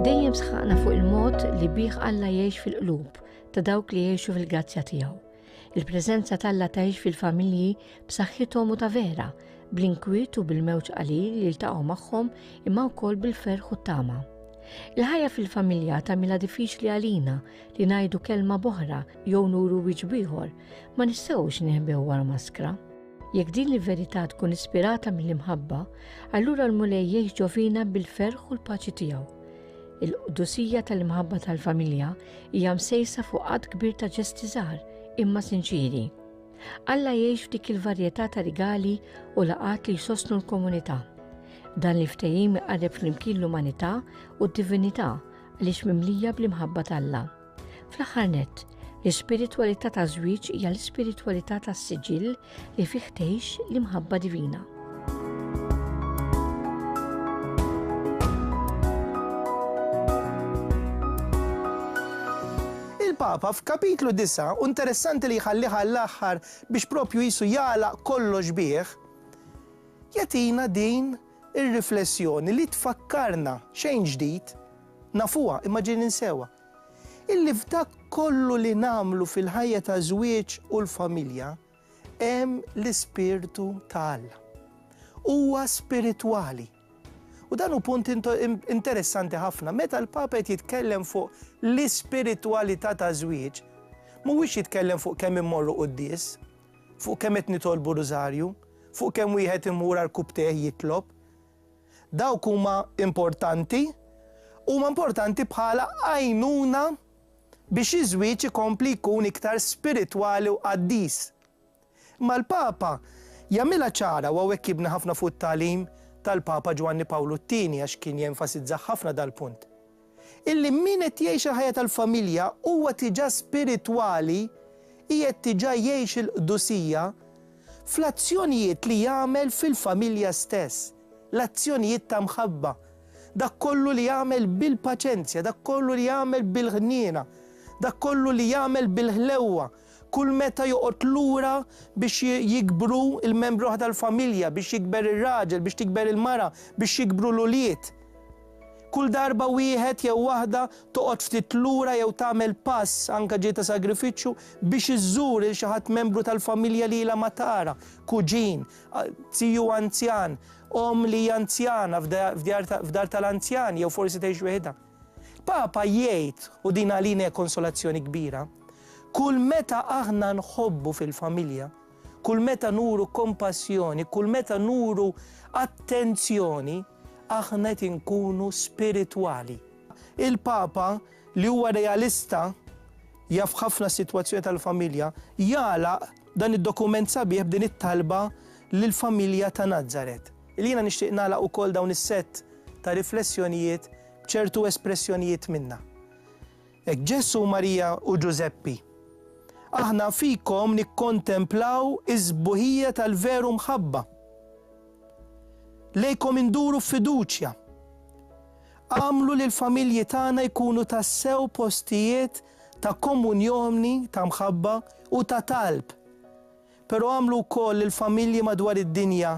Dejjem sħaqna fuq il-mod li bih Alla jgħix fil-qlub ta' dawk li jgħixu fil-grazzja tiegħu. Il-preżenza t'Alla tgħix fil-familji b'saħħithom u ta' vera, bl-inkwiet u bil-mewġ qalil li jiltaqgħu magħhom imma wkoll bil-ferħ u t-tama. Il-ħajja fil-familja tagħmilha diffiċli għalina li ngħidu kelma boħra jew nuru wiċċ bieħor, ma nistgħux nieħbew wara maskra. Jekk din l-verità tkun ispirata mill-imħabba, allura l-Mulej jgħix ġovina bil-ferħ u l-paċi tiegħu. Il-qdusija tal-imħabba tal-familja hija msejsa fuq qatt kbir ta' ġesti żgħar imma sinċiri. Alla jgħix f'dik il-varjetà ta' rigali u laqat li jsostnu l-komunità. Dan li ftehim iqarreb flimkien l-umanità u d-divinità għaliex mimlija bl-imħabba t'Alla. Fl-aħħar nett, l-ispiritwalità taż-żwieġ hija l-ispiritwalità tas-siġill li fih tgħix l-imħabba divina. il-Papa f'kapitlu disa' u interessanti li jħallih għall-aħħar biex propju jisu jagħlaq kollox bih, jagħtina din ir-riflessjoni li tfakkarna xejn ġdid Nafuha, imma ġieli ninsewha. Illi f'dak kollu li nagħmlu fil-ħajja ta' żwieġ u l-familja hemm l-Ispirtu ta' Alla. Huwa spiritwali. U dan hu punt interessanti ħafna, meta l-Papa qed jitkellem fuq l-ispiritwalità ta' żwieġ, mhuwiex jitkellem fuq kemm immorru quddies, fuq kemm qed nitolbu rużarju, fuq kemm wieħed imur għal kupp tè jitlob, Dawk huma importanti, huma importanti bħala għajnuna biex iż-żwieġ ikompli jkun iktar spiritwali u qaddis. Imma l-Papa jagħmilha ċara, u hawnhekk jibni ħafna fuq it-tagħlim tal-Papa Ġwanni Pawlu t-Tieni għax kien jenfasizza ħafna dal-punt, illi min qed jgħix il-ħajja tal-familja huwa diġà spiritwali qiegħed diġà jgħix il-qdusija fl-azzjonijiet li jagħmel fil-familja stess, l-azzjonijiet ta' mħabba, dak kollu li jagħmel bil-paċenzja, dak kollu li jagħmel bil-ħniena, dak kollu li jagħmel bil-ħlewwa. Kull meta joqgħod lura biex jikbru l-membri l-oħra tal-familja, biex jikber ir-raġel, biex tikber il-mara, biex jikbru l-ulied. Kull darba wieħed jew waħda toqgħod ftit lura jew tagħmel pass, anke ġej ta' sagrifiċċju, biex iżżur 'il xi ħadd membru tal-familja li ilha ma tara, kuġin, tiju anzjan, omm li hija anzjana f'dar tal-anzjani jew forsi tgħix weħidha. Papa jgħid, u din għalina hija konsolazzjoni kbira, Kull meta aħna nħobbu fil-familja, kull meta nuru kompassjoni, kull meta nuru attenzjoni, aħna qed inkunu spiritwali. Il-Papa, li huwa realista, jaf ħafna s-sitwazzjoni tal-familja, jagħlaq dan id-dokument sabiħ b'din it-talba lill-familja ta' Nazaret. Li jiena nixtieq nagħlaq ukoll dawn is-sett ta' riflessjonijiet b'ċertu espressjonijiet minnha. Hekk Ġesù, Marija u Ġużeppi, aħna fikom nikkontemplaw is-sbuħija tal-veru mħabba. Lejkom induru f'fiduċja. Agħmlu li l-familji tagħna jkunu tassew postijiet ta' komunjoni ta' mħabba u ta' talb. Però għamlu wkoll li l-familji madwar id-dinja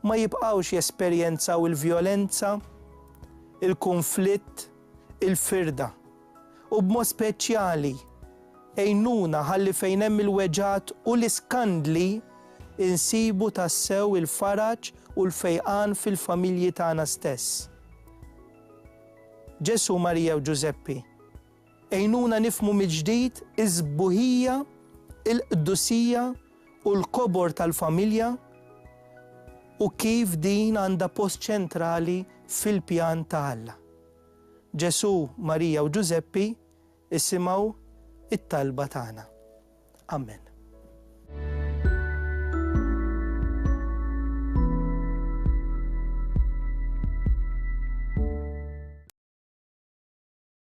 ma jibqgħux jesperjenzaw il-vjolenza, il-kunflitt, il-firda. U b'mod speċjali, għinuna ħalli fejn hemm il-weġgħat u l-iskandli, insibu tassew il-faraġ u l-fejqan fil-familji tagħna stess. Ġesù, Marija u Ġużeppi. Għinuna nifhmu mill-ġdid is-sbuħija, il-qdusija u l-kobor tal-familja u kif din għandha post ċentrali fil-pjan ta' Alla. Ġesù, Marija u Ġużeppi isimgħu t-talba tagħna. Amen.